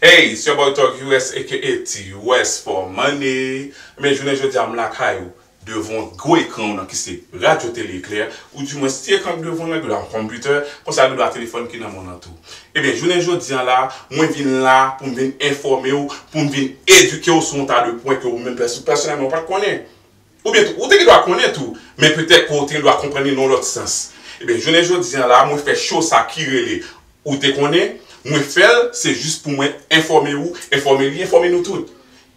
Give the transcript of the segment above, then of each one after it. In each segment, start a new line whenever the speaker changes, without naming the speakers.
Hey it's your boy Thug US aka TUS for money Ebyen jounen jodia m lakay ou devan gwo ekran w nan ki se Radyo Tele Eklè ou di mwens ti ekran k devan w nan genlè yon konpitè konsa genlè telefòn ki nan men w nan tou Ebyen jounen jodi an la mwen vin la pou m vin enfòme w pou m vin edike w sou yon ta de pwen ke ou menm pèsonèlman ou pat konnen. Oubyen tou, ou te gen dwa konnen tou, men petèt ke w te gen dwa konprann li nan yon lòt sans. Ebyen, jounen jodi an la, mwen fè show sa ki rele Ou te konnen? Mwen fè l, se jis pou mwen enfòme ou, enfòme li, enfòme nou tout.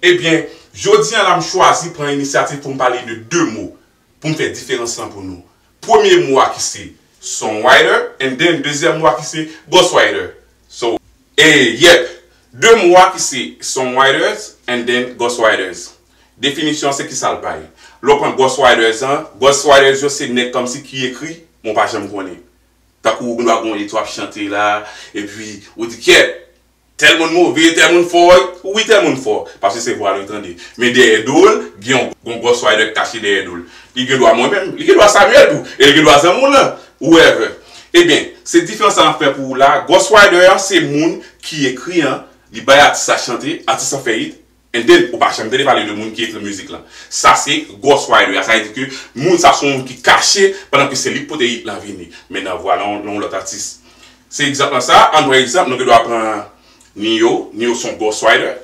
Ebyen, jodi an la m chwazi pran inisyativ pou m pale de 2 mo, pou m fè diferans lan pou nou. Premye mo a ki se Songwriter and then dezyèm mo a ki se Ghostwriter. So. E, yep! 2 mo a ki se Songwriters and then Ghostwriters. Definisyon se kisa l bay. Lè w pran Ghost Riders an, Ghost Riders yo se nèg kòmsi ki ekri, men w pa janm konnen. Tankou ou gen dwa gen yon lit w ap chante la, epi ou di kyèt! Tèl moun move, tèl moun fò, wi tèl moun fò, paske se vwa l yo tande. Men dèyè do l, gen yon yon Ghost Rider k kache dèyè do l. Li gen dwa mwen menm, li gen dwa Samuel tou, e li gen dwa zanmi w lan, whoever. Ebyen, se diferans sa m ap fè pou ou la a, Ghost Rider an se moun ki ekri an, li bay atis la chante, atis lan fè hit, And then ou pa janm tande pale de moun ki ekri mizik lan. Sa se ghost writer a, sa vle di ke moun sa son moun ki kache pandan ke se li k pote hit lan vini men nan vwa lan yon lòt atis. Se egzanp lan sa, an pran egzanp nou gen dwa pran Ne-Yo, Ne-Yo son ghost writer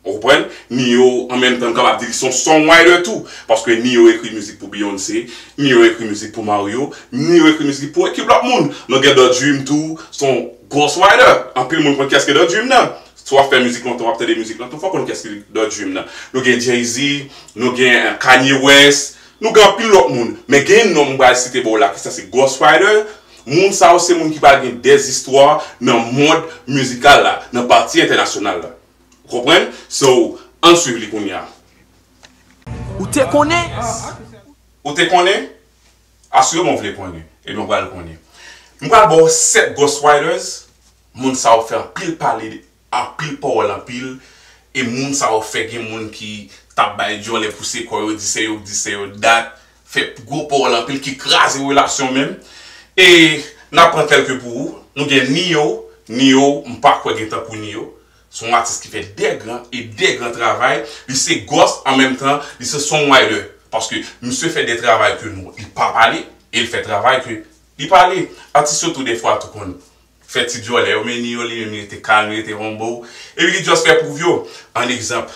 ou konprann, Ne-Yo an menm tan nou kapab di li son song writer tou paske Ne-Yo ekri mizik pou Beyoncé, Ne-Yo ekri mizik pou Mario, Ne-Yo ekri mizik pou ekip lòt moun. Nou gen Da Dream tou son ghost writer, anpil moun konn kiyès ke Da Dream nan. Si wap fè mizik lontan wap tande mizik lan tou fòw konn kès ki dan dream nan nou gen Jay-Z nou gen Kanye West nou gen anpil lòt moun men gen yon non m pral site ba w la ki sa se Ghost Rider moun sa yo se moun ki pral gen dè istwa nan mond mizikal la nan pati entènasyonal la ou konprann so ann swiv li kounya.
Ou te konnen? Ou
te konnen? Asireman w vle konnen ebyen w pral konnen m pral ba w 7 Ghost Riders Moun sa yo fè anpil pale anpil pawòl anpil e moun sa yo fè gen moun ki tap bay dyòlè pouse kò yo di se yo k di se yo t dat fè gwo pawòl anpil ki kraze relasyon menm e nap pran kèlke pou ou nou gen Nio Nio m pa kwè gen tankou Nio se yon atis ki fè dè gran e dè gran travay li se gòs an menm tan li se songwriter paske misye fè dè travay ke nou li pa pale e l fè travay ke li pale atis yo tou dè fwa tou konn fè ti dyòlè yo meni yo li menm li rete kalm li rete humble epi li just fè pwouv yo an egzanp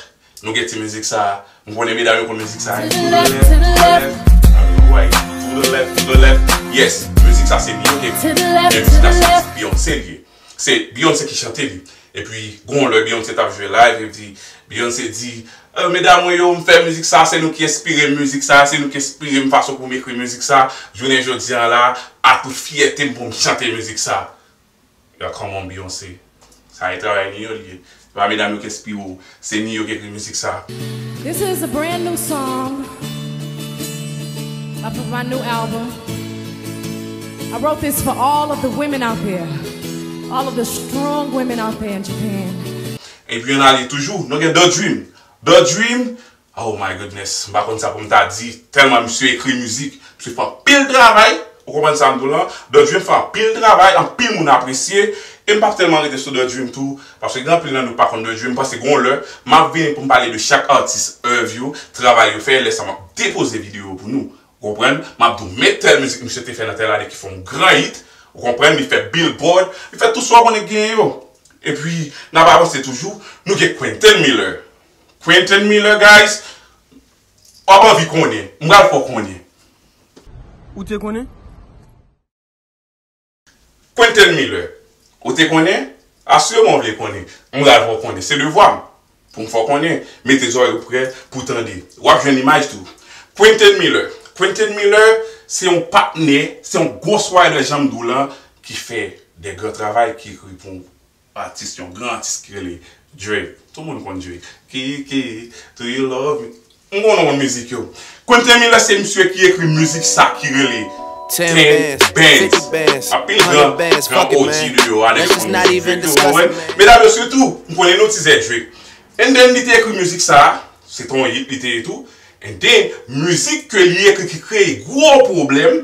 nou gen ti mizik sa m konnen medam yo konn mizik sa wi to the left to the left I mean right to the left to the left yes mizik sa se li yo ki ekri l men mizik la se ti Beyonce l ye se Beyonce ki chante li Epi gen yon lè Beyoncé tap jwe live epi Beyoncé di Ew medam mwen yo m fè mizik sa se nou ki enspire m mizik sa se nou ki enspire m fason pou m ekri mizik sa jounen jodi an la a tout fyète m pou m chante mizik sa Yo come on Beyoncé sa e travay nou yo li ye se pa medam yo k enspire w. Se New York ekri mizik sa. This is a
brand new song off of my new album I wrote this for all of the women out there all of the strong women out there in Japan. Epi yon
ale toujou, nou gen Da Dream Da Dream Oh my goodness, m pa konn sa pou m ta di tèlman misye ekri mizik, misye fè anpil travay, ou konprann sa m di w lan, The Dream fè anpil travay, anpil moun apresye, e m pap tèlman rete sou The Dream tou, paske gen anpil nan nou k pa konn The Dream, m panse gon lè, m ap vini pou m pale de chak atis, èv yo, travay yo fè, lè sa m ap depoze videyo yo pou nou, ou konprann, m ap di w men tèl mizik misye te fè nan tèl ane ki fè yon gran hit, ou konprann, li fè Billboard, li fè tout sa w konnen k genyen yo, epi n ap avanse toujou, nou gen Quenton Miller. Quentin Miller guys wap anvi konnen m pral fè w konnen.
Ou te konnen?
Quentin Miller Ou te konnen? Asireman w vle konnen. M pral fè w konnen. Se devwa m pou m fè w konnen. Mete zòrèy ou prè pou w tande. Wap jwenn imaj tou. Quentin Miller Quentin Miller se yon patnè, se yon ghost rider jan m di w lan ki fè de gran travay ki ekri pou Atis yon gran atis ki rele Drake tout moun konn Drake Kiki do you love me m konn non mizik yo Quentin Miller se misye ki ekri mizik sa ki rele Ten bands anpil gran
gran OG de yo a nèg yo konn mizik Drake yo konprann medam yo sitou
m konnen nou tizè Drake and then li te ekri mizik sa se te yon hit li te ye tou and then mizik ke li ekri ki kreye gwo pwoblèm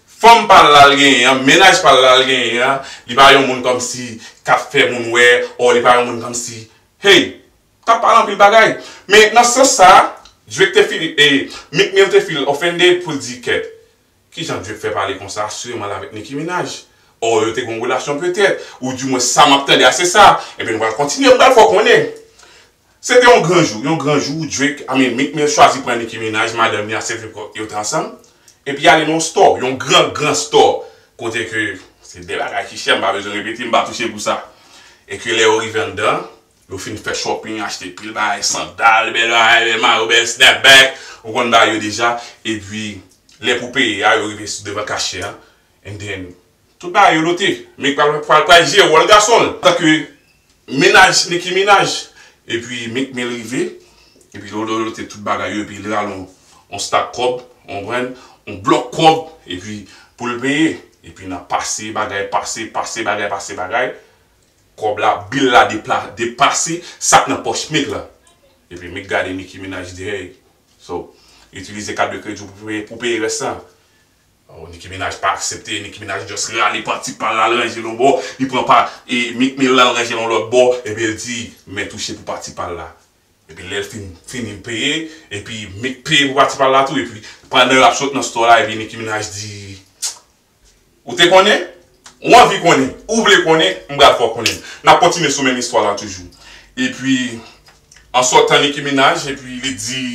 Fanm pa l la l genyen an, mennaj pa l la l genyen an, li pa yon moun kòmsi k ap fè moun wè ò li pa yon moun kòmsi hey! M ta pale anpil bagay. Men nan sans sa a, Drake te feel e Meek Mill te feel offended pou l di kèt, kijan Drake fè pale konsa asireman l avèk Nicki Minaj? Ò yo te gen yon relasyon petèt, ou di mwens sa m ap tande a se sa. Ebyen nou pral kontinye m pral fè w konnen. Se te yon gran jou, yon gran jou, Drake, I mean Meek Mill chwazi pran Nicki Minaj, madanm li a Cedric Rock, yo te ansanm, epi ale nan yon store, yon gran, gran store, kote ke, se de bagay ki chè, m pa bezwen repete, m pa touche pou sa. E ke lè yo rive anndan, yo fin fè shopping, achte pil bagay, sandal, bèl bagay, bèl mayo, bèl snapback, ou konn bagay yo deja, epi lè pou peye a, yo rive sou devan cashier an, and then, Tout bagay yo note. Meek pral pral pral jere wòl gason l tanke Minaj Nicki Minaj epi Meek Mill rive epi yo yo note tout bagay yo epi li rale yon yon stak kòb ou konprann yon blòk kòb epi pou l peye epi nan pase bagay pase pase bagay pase bagay kòb la bill la depla depase sak nan pòch Meek la epi Meek gade Nicki Minaj di hey so itilize kat de kredi w pou peye pou peye rès lan Oh Nicki Minaj pa aksepte, Nicki Minaj just rale panty pal la l ranje l yon bò, li pran pa e Meek Mill la l ranje l yon lòt bò epi l di men touche pou pati pal la epi lèl fin fini l peye epi Meek peye pou pati pal la tou epi pandan lap sot nan store la epi Nicki Minaj di ou te konnen? Ou anvi konnen? Ou vle konnen? M pral fè w konnen Nap kontinye sou menm istwa la toujou epi an sotan Nicki Minaj epi li di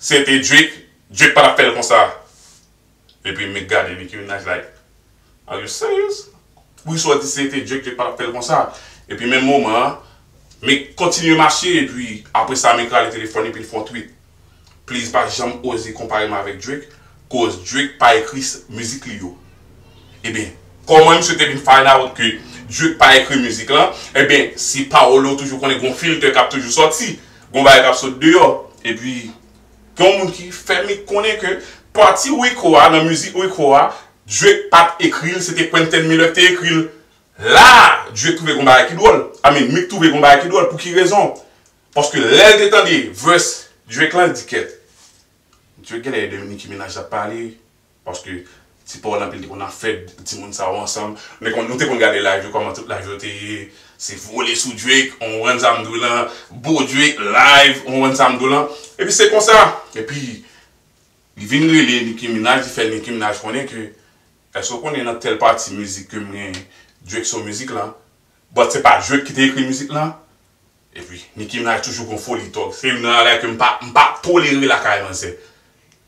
se te Drake Drake patap fèl konsa. Epi me gade Nicki Minaj like are you serious? Wi sa w di se te Drake Drake patap fèl konsa epi menm moman an Meek kontinye mache epi apresa Meek rale telefòn epi l fon tweet please pa janm oze konpare m avèk Drake koz Drake pa ekri mizik li yo ebyen kòman misye te vin find out ke Drake pa ekri mizik lan ebyen se pawòl ou toujou konnen gon filtè kap toujou sòti gon bagay kap sot deyò epi gen yon moun ki fè m konnen ke pati Rico a nan mizik Rico a Drake pat ekri l se te Quenton Miller ki te ekri l la Drake twouve gon bagay ki dwòl I mean Meek twouve gon bagay ki dwòl pou ki rezon paske lè l te tande verse Drake lan li di kèt Drake genlè e de Nicki Minaj lap pale. Paske ti paul anpil te konn ap fè ti moun sa yo ansanm men kon nou te konn gade live yo kòman tout live yo te ye se vole sou drake ou konprann sa mdou lan bo drake live ou konprann sa mdou lan epi se konsa epi li vin rele nicki minaj li fè nicki minaj konnen ke èske ou konnen nan tèl pati mizik kem genyen drake se w mizik lan but se pa drake ki te ekri mizik lan Epi Nicki Minaj toujou gon foli tòg se youn nan bagay ke mpa mpa tolere lakay manzè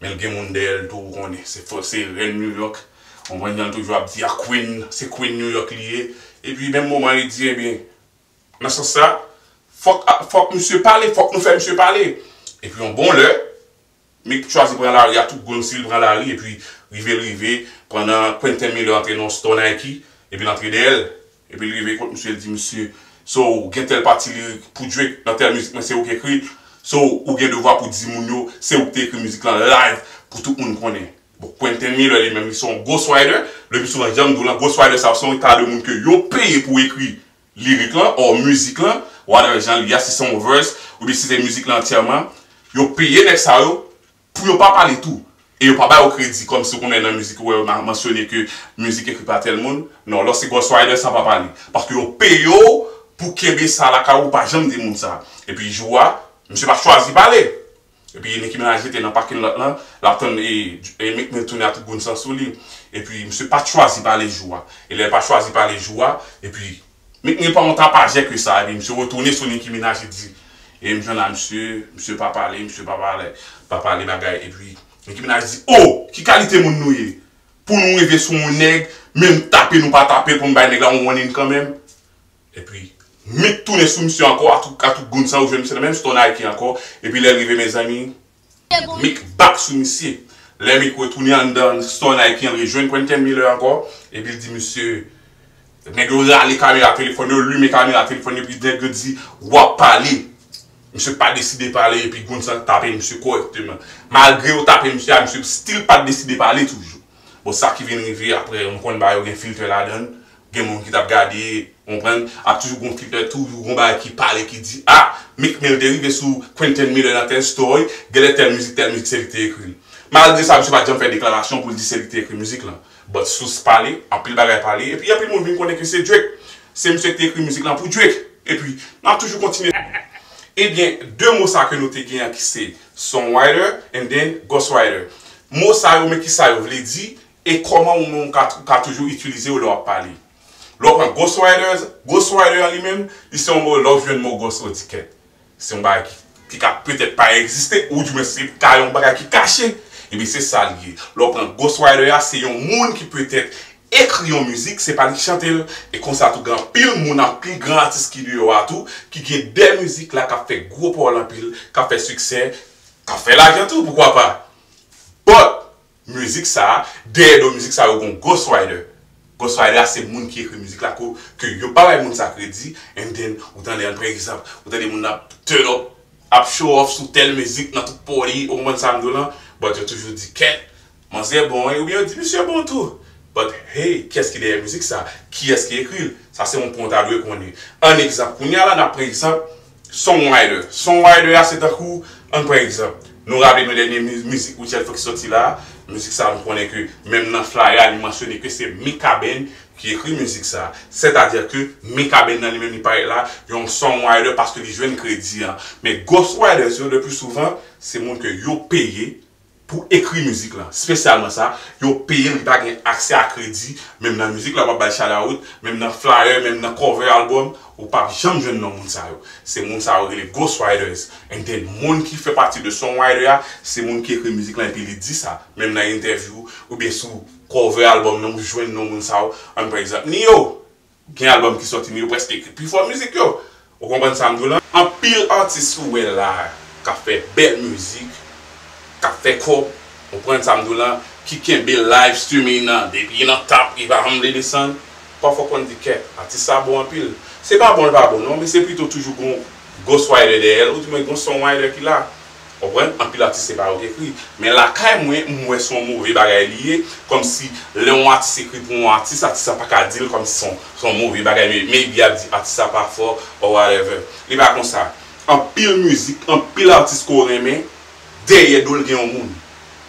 menl gen moun dèyèl tou ou konnen se fo se rèn new york ou konprann janl toujou ap di a queen se queen new york li ye epi menm moman li di ebyen nan sans sa fòk fòk misye pale fòk nou fè misye pale epi yon bon lè Meek t chwazi pran lari a tout gonn sil pran lari epi rive l rive pandan Quentin Miller antre nan yon store Nike epi l antre dèyè l epi l rive kot misye l di misye so ou gen tèl pati lirik pou Drake nan tèl mizik mwen se ou k ekri l so ou gen devwa pou di moun yo se ou k te ekri mizik lan live pou tout moun konnen bon Quentin Miller li menm li se yon ghost writer le pi souvan janm di w lan ghost writer sa yo se yon eta de moun ke yo peye pou ekri Lirik lan or mizik lan, whatever jan li a, si se yon verse oubyen si se mizik lan antyèman, yo peye nèg sa yo pou yo pa pale tou e yo pa ba yo kredi kòmsi ou konnen nan mizik ou wè yo mansyone ke mizik ekri pa tèl moun, non lò se Ghost Rider sa pa pale paske yo peye w pou kenbe sa lakay ou ou pa janm di moun sa epi jou a misye pa chwazi pale. Epi Nicki Minaj rete nan parking lot lan, lap tann Meek Mill tounen a tout boun san sou li. Epi misye pat chwazi pale jou a. E lè l pa chwazi pale jou a, epi Meek Mill pa yon tapajè ke sa, epi misye retounen sou Nicki Minaj li di, e m jwenn la misye, misye pa pale, misye pa pale, pa pale bagay. Epi Nicki Minaj di, oh! Ki kalite moun nou ye? Pou nou rive sou yon nèg, menm tape nou pa tape l pou m bay nèg la yon warning kanmenm? Epi Mik tounen sou misye ankò atougoun sa ou jwenn misye nan menm stò Nike ankò epi lèl rive mezanmi Mik bak sou misye lè Mik retounen anndan stò Nike an li rejwenn Quentin Miller ankò epil di misye nèg yo rale kamera telefòn yo limen kamera telefòn yo epi nèg yo di wap pale misye pa deside pale epi goun sa tape misye kòrèkteman malgre yo tape misye a misye stil pa deside pale toujou. Bon sa ki vin rive aprè m konn bagay yo gen filtè ladann, gen moun ki tap gade, ou konprann, ap toujou gon filtè tou, yon gon bagay ki pale ki di ah Meek Mill te rive sou Quenton Miller nan tèl story, genlè tèl mizik tèl mizik se li ki te ekri l. Malgre sa misye pat janm fè deklarasyon pou l di se li ki te ekri mizik lan. But sous pale, anpil bagay pale, epi anpil moun vin konnen ke se Drake. Se misye ki te ekri mizik lan pou Drake. Epi nap toujou kontinye. Ebyen 2 mo sa ke nou te gen an ki se Songwriter and then Ghostwriter. Mo sa yo men ki sa yo vle di e kòman ou menm ou ka toujou itilize yo lè w ap pale. Lè w pran ghostwriters, ghostwriter an li menm, li se yon mo lè w jwenn mo ghost ou di kèt. Se yon bagay ki ka petèt pa egziste ou di mwen se ka yon bagay ki kache. Ebyen se sa li ye. Lè w pran ghostwriter a se yon moun ki petèt ekri yon mizik, se pa li ki chante l e konsa tou gen anpil moun, anpil gran atis ki deyò a tou ki gen de mizik la k ap fè gwo pawòl anpil, k ap fè siksè. Kap fè lajan tou poukwa pa But Mizik sa dèyè do mizik sa yo gon Ghost Rider Ghost Rider a se moun ki ekri mizik la ko ke yo pa bay moun sa kredi and then ou tande an prè egzanp ou tande moun nan ap turn up ap show off sou tèl mizik nan tout party ou konprann sam diw lan but yo toujou di kèt Manzè bon wi oubyen yo di misye bon tou but hey kiyès ki dèyè mizik sa kiyès ki ekri l sa se yon pwen w ta dwe konnen ann egzanp kounya la nap pran egzanp songwriter songwriter a se tankou ann pran egzanp nou raple nou dènye mizik Rutshelle fèk sòti la mizik sa nou konnen ke menm nan flyer a li mansyone ke se Mikaben ki ekri mizik sa sètadi ke Mikaben nan li menm li parèt la yon songwriter paske li jwenn kredi an men ghostwriters yo le plus souvent se moun ke yo peye Pou ekri mizik lan spesyalman sa yo peyel li pa gen aksè a kredi menm nan mizik la wap bay shalaut menm nan flyer menm nan cover album ou pap janm jwenn non moun sa yo se moun sa yo rele ghost writers and then moun ki fè pati de song writer a se moun ki ekri mizik lan epi li di sa menm nan entèvyou oubyen sou cover album nan ou jwenn non moun sa yo an pa egzanp Nio. Gen album ki sòti men yo prèske ekri pi fò mizik yo. Ou konprann sa m di w lan? Anpil atis ou wè la a k ap fè bèl mizik, k ap fè kòb, ou konprann sa m di w lan, ki kenbe live streaming nan depi nan tap rive anmle desann, pafwa ou konn di kèk atis sa bon anpil. Se pa bon l pa bon non men se pito toujou gon ghost writer dèyè l oudimwen gon songwriter ki la. Konprann? Anpil atis se pa yo ki ekri. Men lakay mwen, m wè se yon move bagay li ye. Kòmsi lè yon atis ekri pou yon atis, atis la pa ka di l kòmsi se yon move bagay men maybe y ap di atis la pa fò or whatever. Li pa konsa. Anpil mizik, anpil atis ke w renmen, dèyè do l gen yon moun.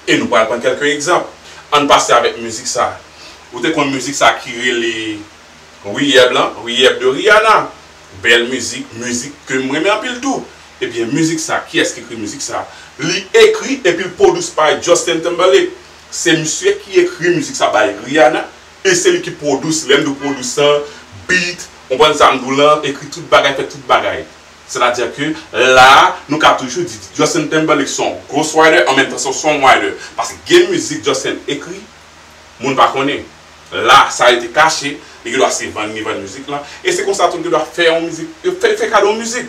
E nou pral pran kèlke egzanp. Ann pase avèk mizik sa. Ou te konn mizik sa ki rele. Riyèb lan Riyèb de Rihanna bèl mizik mizik kem renmen anpil tou ebyen mizik sa kiyès ki ekri mizik sa li ekri epil produce by Justin Timberlake se misye ki ekri mizik sa bay Rihanna e se li ki produce lèm di produce an beat konprann sam diw lan ekri tout bagay fè tout bagay sètadi ke la nou ka toujou di Justin Timberlake son ghost writer an menm tan son songwriter paske gen mizik Justin ekri moun pa konnen. La, sa rete kache, li gen dwa se vann li vann mizik lan, e se konsa tou l gen dwa fè yon mizik, yo fè li fè kado yon mizik.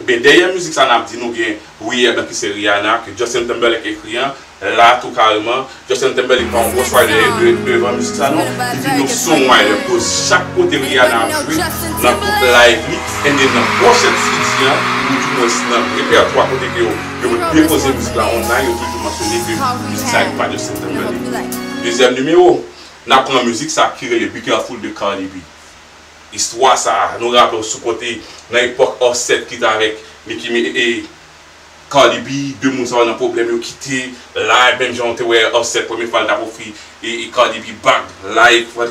Ebyen dèyè mizik sa n ap di nou gen Wi Eblan ki se Rihanna ke Justin Timberlake ekri an, la tou kareman, Justin Timberlake pa yon gwo sway dèyè devan mizik sa non, li vin yon songwriter koz chak kote Rihanna ap jwe nan tout live li, ebyen nan pwòchèn CD an, ou di mwens nan repètwa kote ke yo. Yo mèt depoze mizik la online yo toujou mansyone ke mizik sa gen pa de septem nan li. Dezyèm nimewo, n ap pran mizik sa ki rele Be Careful de Cardi B. Istwa sa a, nou raple w sou kote nan epòk Offset ki t avèk Nicki mi e Cardi B, 2 moun sa yo nan pwoblèm yo kite live menm jan w te wè Offset premye fwa l t ap ofri Cardi B bag live.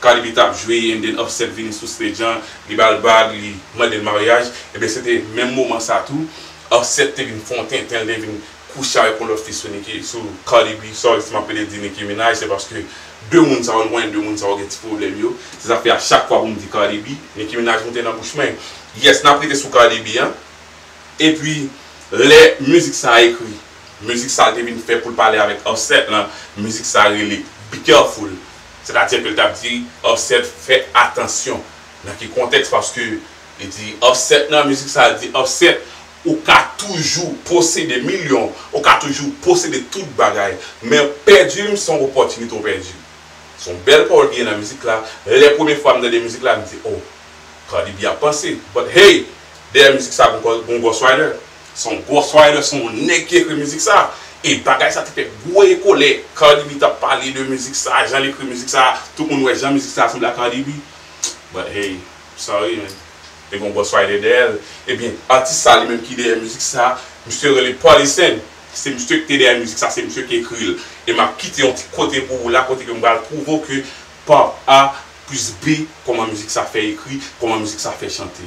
Cardibi tap jwe and then upset vini sou stage an li bal bag li mandel maryaj ebyen se te menm moman sa tou upset te vin fon tentenl te vin kouche avèk yon lòt fi sou Nicki sou Cardibi sorry si map pede di Nicki Minaj se paske 2 moun sa yo nou konnen 2 moun sa yo gen ti pwoblèm yo se sa fè a chak fwa poum di Cardibi Nicki Minaj moute nan bouch mwen yes nap rete sou Cardibi an epi lè mizik sa a ekri mizik sal te vin fè poul pale avèk upset lan mizik sa rele be careful. Sètadi ke l t ap di Offset fè atansyon nan ki kontèks paske li di Offset nan mizik sa li di Offset ou ka toujou posede milyon ou ka toujou posede tout bagay men pèdi m se yon opòtinite w pèdi. Se yon bèl pawòl ki gen nan mizik la lè premye fwa m tande mizik la m di oh Cardi B ap panse but hey dèyè mizik sa gon Ghost Rider. Se yon ghost writer, se yon nèg ki ekri mizik sa. E bagay sa te fè gwo eko lè Cardi B tap pale de mizik sa, jan l ekri mizik sa, tout moun wè jan mizik sa sanble a Cardi B. But hey, sorry man. Te gen yon ghost writer dèyè l. Ebyen, atis sa li menm ki dèyè mizik sa, misye rele Pòlisen. Se misye ki te dèyè mizik sa, se misye ki ekri l. E map kite yon ti kote pou ou la kote ke m pral prouve w ke part A plus B kòman mizik sa fè ekri, kòman mizik sa fè chante.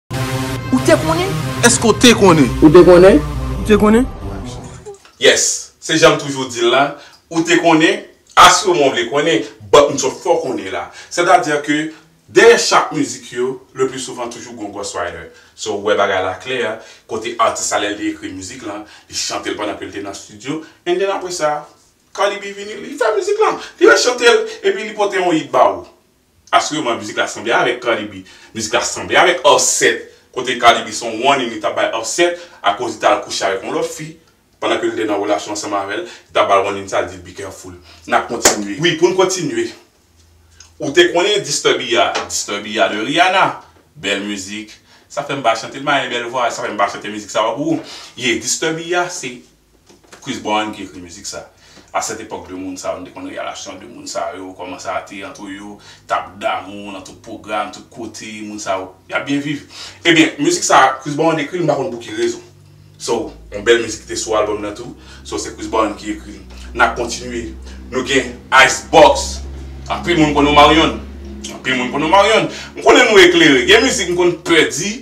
Ou te konnen? Eske w te konnen?
Ou te konnen?
Ou te konnen?
Yes!
Se jan m toujou di l la, ou te konnen? Asiremon w vle konnen, but m sot fè w konnen la. Sètadi ke dèyè chak mizik yo, le pli souvan toujou gon ghostwriter. So ou wè bagay la klè, kote atis la lè l te ekri mizik lan, li chante l pandan ke l te nan studio, and then apre sa, Cardi B vini, li fè mizik lan. Li rechante l, epi li pote yon hit ba ou. Asireman mizik la sanble avèk Cardi B. Mizik la sanble avèk Offset kote Cardi B se yon warning li t ap bay Offset akoz li t al kouche avèk yon lòt fi pandan ke li te nan relasyon ansanm avè l, li t ap ba l warning sa l di l be careful. N ap kontinye. Wi pou n kontinye. Ou te konnen Disturbia? Disturbia de Rihanna. Bèl mizik. Sa fè m pa chante l, m pa gen bèl vwa, sa fè m pa chante mizik sa yo pou ou. Ye Disturbia se Chris Brown ki ekri mizik sa. A sèt epòk 2 moun sa yo nou te konn realasyon 2 moun sa yo, kòman sa te antre yo, tap damou nan tout pwogram, tout kote, moun sa yo yap byen viv. Ebyen mizik sa Chris Brown ekri l m pa konn pou ki rezon. So yon bèl mizik ki te sou album nan tou, so se Chris Brown ki ekri l. Nap kontinye nou gen Ice Box, anpil moun konn Omarion, anpil moun konn Omarion. M konnen nou eklere, gen mizik m konn pè di.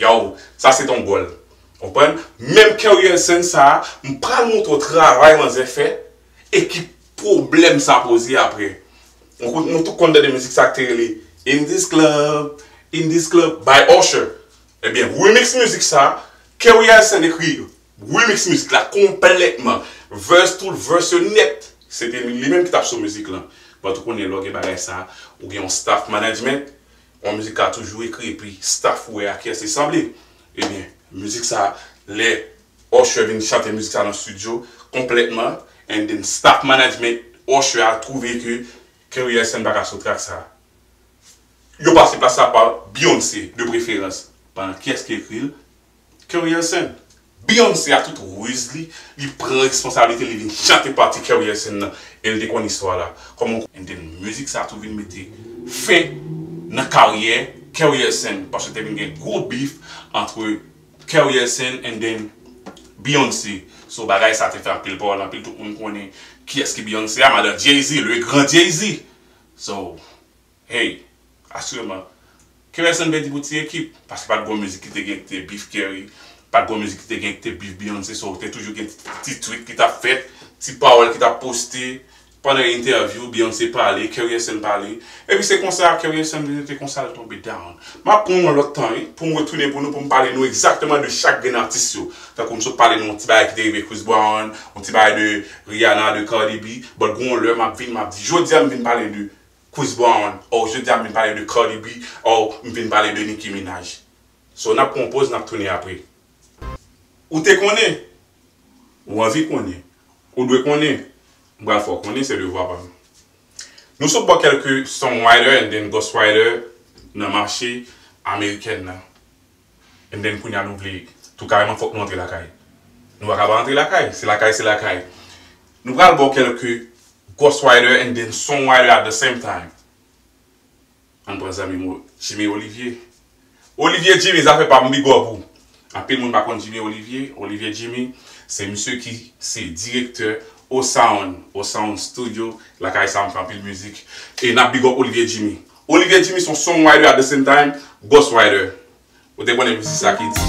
Yow sa se ton gòl ou konprann menm keryensen sa m pral moutre w travay manzè fè e ki pwoblèm sa poze aprè nou tout konn tande mizik sa k te rele in this club in this club by usher ebyen remix mizik sa keryensen ekri remix mizik la konplètman vèse tout vèse yo nèt se te li menm ki tap sou mizik lan bon tout konnen lè w gen bagay sa ou gen yon staff management Yon mizik ka toujou ekri epi staff ou wè a kiyès li sanble. Ebyen mizik sa lè Usher vin chante mizik sa nan studio konplètman and then staff management Usher a twouve ke Kerry Hilson pa ka sou track sa. Yo pase plas la pa Beyoncé de preferans. Ban kiyès ki ekri l? Career Sin. Beyoncé ak tout ruz li, li pran responsabilite li vin chante pati Career Sin nan e l te konn istwa la. Kòman w. Enten mizik sa tou vin mete fen nan karyè Career Sin paske te vin gen gwo beef antre Career Sin and then Beyoncé so bagay sa te fè anpil pawòl anpil tout moun konnen kiyès ki Beyoncé a madan Jay-Z le grand Jay-Z so Hey! Asreman. Kerèsonn vle di pou ti ekip. Paske pat gon mizik ki te gen ki te bif Kerry, pat gon mizik ki te gen ki te bif Beyoncé so te toujou gen ti tweet ki tap fèt, ti pawòl ki tap poste pandan entèvyou Beyoncé pale, Kerryson pale. Epi se konsa Kerryson vin rete konsa l tonbe down. Map pran yon lòt tan wi poum retounen pou nou poum pale nou egzakteman de chak grenn atis yo. Tankou m sot pale nou yon ti bagay ki te rive Chris Brown, yon ti bagay de Rihanna, de Cardi B, but gon yon lè map vin map di. Jodia m vin pale de Chris Brown oh jodi a m vin pale de Cardi B oh m vin pale de Nicki Minaj So n ap pran yon poz n ap tounen apre Ou te konnen Ou anvi konnen Ou dwe konnen M pral fè w konnen se devwa pa m Nou sot bò kèlke songwriter and then ghostwriter nan mache amerikèn nan. And then kounye a nou vle tou kareman fòk nou antre lakay. Nou paka pa antre lakay. Se lakay se lakay. Nou pral baw kèlke Ghost Rider and then Song Rider at the same time. Ann pran zanmi m Jimmy Olivier. Olivier Jimmy zafè pa m big up ou. Anpil moun pa konn Jimmy Olivier. Olivier Jimmy se misye ki se direktè O-Sound, O-Sound Studio lakay sa m fè anpil mizik. E n ap big up Olivier Jimmy. Olivier Jimmy son song writer at the same time boss writer ou te konnen msi sa ki di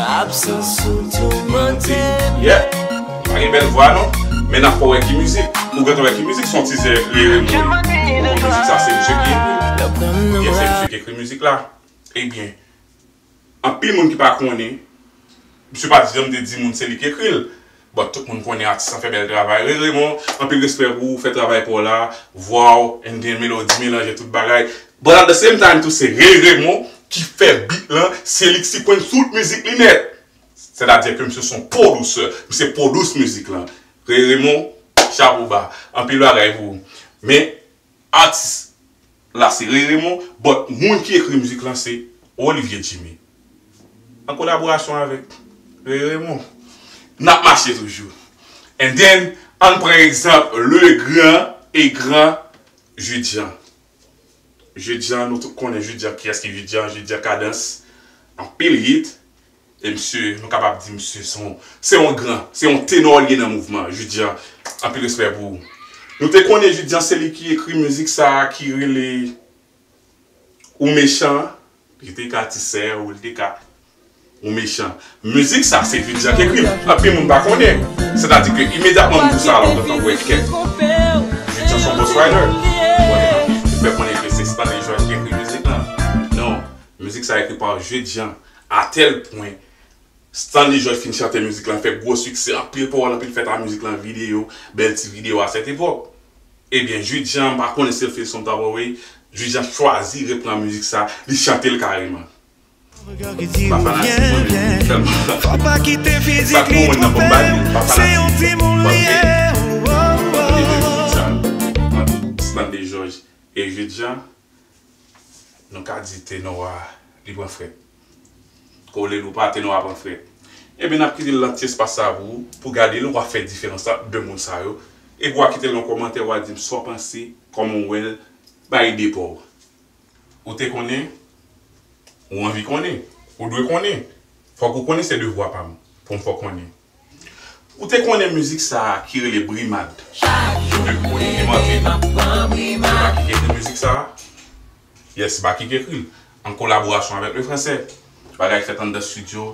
Absans ou toumante m Yeah Pa gen bèl vwa non Men nap fè w wè ki mizik Ou gentan wè ki mizik son tizè Riire m ri Ou konn mizik sa se misye ki ekri l Yes se misye ki ekri mizik la Ebyen Anpil moun ki pa konnen, misye pa janm te di moun se li ki ekri l. Bon tout moun konnen atis lan fè bèl travay. Ray Raymond, anpil respè pou ou, fè travay pa w la, vwa w and gen melodi, melanje tout bagay. But at the same time tou se Ray Raymond ki fè beat lan, se li ki sikwenn tout mizik li nèt. Sètadi ke misye son pwodusè, misye pwodus mizik lan. Ray Raymond, chapo ba. Anpil bagay pou ou. Men, Atis la se Ray Raymond but moun ki ekri mizik lan se Olivier Jimmy an kolaborasyon avèk Ray Raymond. Nap mache toujou. And then ann pran egzanp le gran et grand Jude Jean. Jude Jean nou tout konnen Jude Jean kiyès ki Jude Jean, Jude Jean Kadans anpil hit E msye, nou kapab di msye son, se yon gran, se yon tenor li ye nan mouvman an, Jude Jean, anpil respè pou ou. Nou te konnen Jude Jean se li ki ekri mizik sa a ki rele Ou mechan an, li te ka Ti sè ou, li te ka Ou mechan. Mizik sa a se Jude Jean ki ekri l, anpil moun pa konnen, sètadi ke imedyatman moun di sa a la ou gentan wè kè Jude Jean son ghost writer, ou fè konnen ke se Stanley George ki ekri mizik lan, non, mizik sa a ekri pa Jude Jean. A tèl pwen, Stanley George fin chante mizik lan fè gwo siksè, anpil pawòl anpil fèt a mizik lan videyo, bèl ti videyo a sèt epòk. Ebyen Jude Jean, m pa konnen si l fil son tap away, Jude Jean chwazi repran mizik sa, li chante l kareman. M pa fanatik
mwen men m tèlman sa gwo moun nan fò m ba li, m pa fanatik mwen paske m renmen mizik sa
ant Stanley George e Jude Jean. Nou ka di tenor a li pran frèt. Kolel ou pa tenor a pran frèt. Ebyen nap kite lan ti espas sa pou ou pou gadel wa fè diferans ant 2 moun sa yo epi wa kitel yon kòmantè wa dim sa w panse kòman w wèl bay ide pa w. Ou te konnen ou anvi konnen ou dwe konnen fòk ou konnen se devwa pam poum fè w konnen. Ou te konnen mizik sa a ki rele Brimad? Chak jou m leve m ap pran brimad. Se Baky ki ekri mizik sa a? Yes, se Baky ki ekri l, an kolaborasyon avèk Lefransè. Bagay ki fèt anndan stidyo.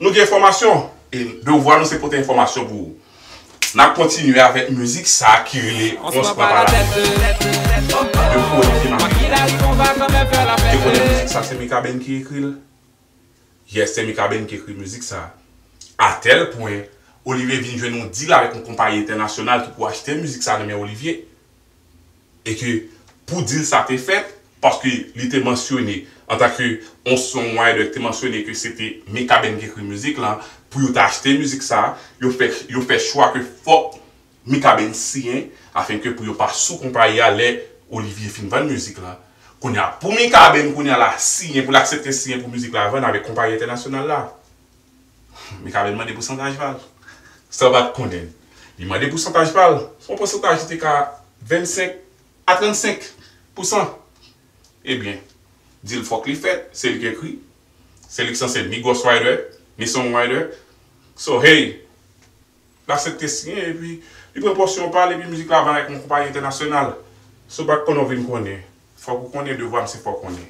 Nou gen enfòmasyon, e devwa nou se pote enfòmasyon pou ou. N ap kontinye avèk mizik sa a ki rele Ons pran pa latèt. Depi ou wè m te makiye, ou te konnen mizik sa a se Mikaben ki ekri l? Yes se Mikaben ki ekri mizik sa. A tèl pwen, Olivier vin jwenn yon dil avèk yon konpayi entènasyonal ki pou achte mizik sa nan men Olivier. E ke pou dil sa te fèt, paske li te mansyone antan ke yon songwriter ki te mansyone ke se te Mikaben ki ekri mizik la, pou yo ta achte mizik sa, yo fè chwa ke fòk Mikaben siyen afin ke pou yo pa sou konpayi a lè Olivier fin vann mizik la. Kounye a pou Mikaben kounye a la siyen pou l aksepte siyen pou mizik la vann avèk konpayi entènasyonal la. Mikaben mande pousantaj pa l. San l pa t konnen l. Li mande pousantaj pa l. Se yon pousantaj ki te ka 25 a 35 pousan. Ebyen, dil fòk li fèt, se li k ekri, se li k sanse ni ghostwriter, ni songwriter. So hey! Lasèt te siyen epi li pran pòsyon pa l epi mizik la vann ak yon konpayi entènasyonal. Si w pa t konnen w vin konnen. Fòk ou konnen devwa m se fè w konnen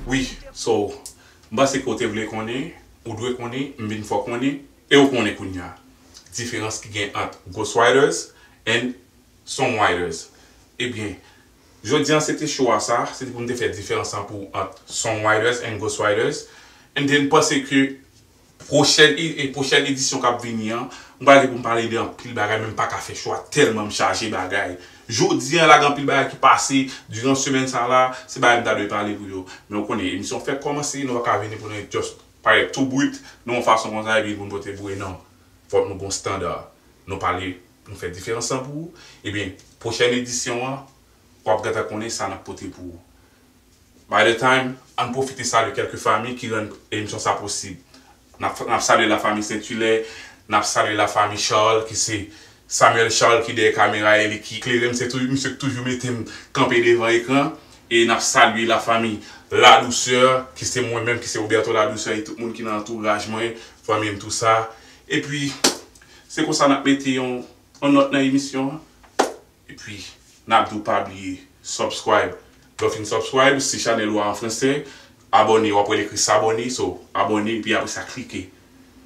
wi. So m panse ke w te vle konnen, ou dwe konnen, m vin fè w konnen e w konnen kounya diferans ki gen ant Ghostwriters and Songwriters. Ebyen jodi an se te show a sa, se te pou m te fè diferans an pou ant Songwriters and Ghostwriters and then panse ke Pwochèn edisyon k ap vini an, m pral gen pou m pale de anpil bagay men m paka fè chwa tèlman m chaje bagay. Jodi an la gen anpil bagay ki pase diran semèn sa la, se bagay m ta dwe pale pou yo. Men ou konnen, emisyon fèk kòmanse, nou pa ka vini pou nou just parèt tou brut nan yon fason konsa epi pou nou pote boure non. Fòk nou gen yon standa. Nou pale, nou fè diferans lan pou ou, ebyen pwochèn edisyon an w ap gentan konnen sa n ap pote pou ou. By the time, ann pwofite salye kèlke fami ki rann emisyon sa posib. Nap salye la fami Saint Hilaire, nap salye la fami Charles ki se Samuel Charles ki dèyè kamera e li ki klere m, se tou misye k toujou mete m kanpe devan ekran e nap salye la fami La Douceur ki se mwen menm ki se Roberto La Douceur e tout moun ki nan antouraj mwen, fanmi m tou sa. Epi se konsa nap mete yon nòt nan emisyon an. Epi nap diw pa bliye subscribe lèw fin subscribe si chanèl ou a an fransè abòne wap wèl ekri s'abonner so abòne epi apresa klike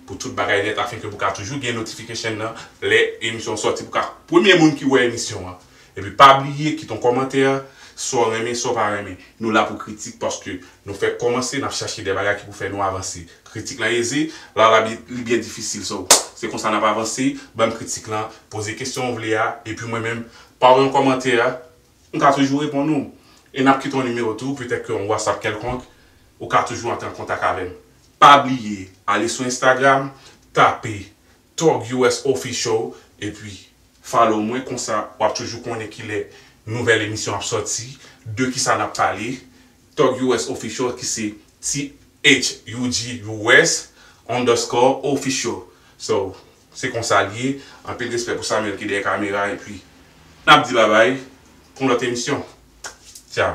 pou tout bagay nèt afenke pou ka toujou gen notification nan lè emisyon sòti pou ka premye moun ki wè emisyon an epi pa bliye kite yon kòmantè saw renmen saw pa renmen nou la pou kritik paske nou fèk kòmanse nap chache de bagay ki pou fè nou avanse. Kritik lan eze, lala li byen difisil so se konsa nap avanse, banm kritik lan, poze kesyon ou vle a epi mwen menm pa w yon kòmantè m ka toujou reponn ou e nap kite yon nimewo tou petèt ke yon whatsapp kèlkonk ou ka toujou antre an kontak avè m. Pa bliye ale sou Instagram tape Thug US Official epi follow mwen konsa wap toujou konnen kilè nouvèl emisyon ap sòti, de kisa nap pale. Thug US Official ki se THUG US underscore official so se konsa li ye anpil respè pou Samuel ki dèyè kamera epi nap di babay pou yon lòt emisyon tchao.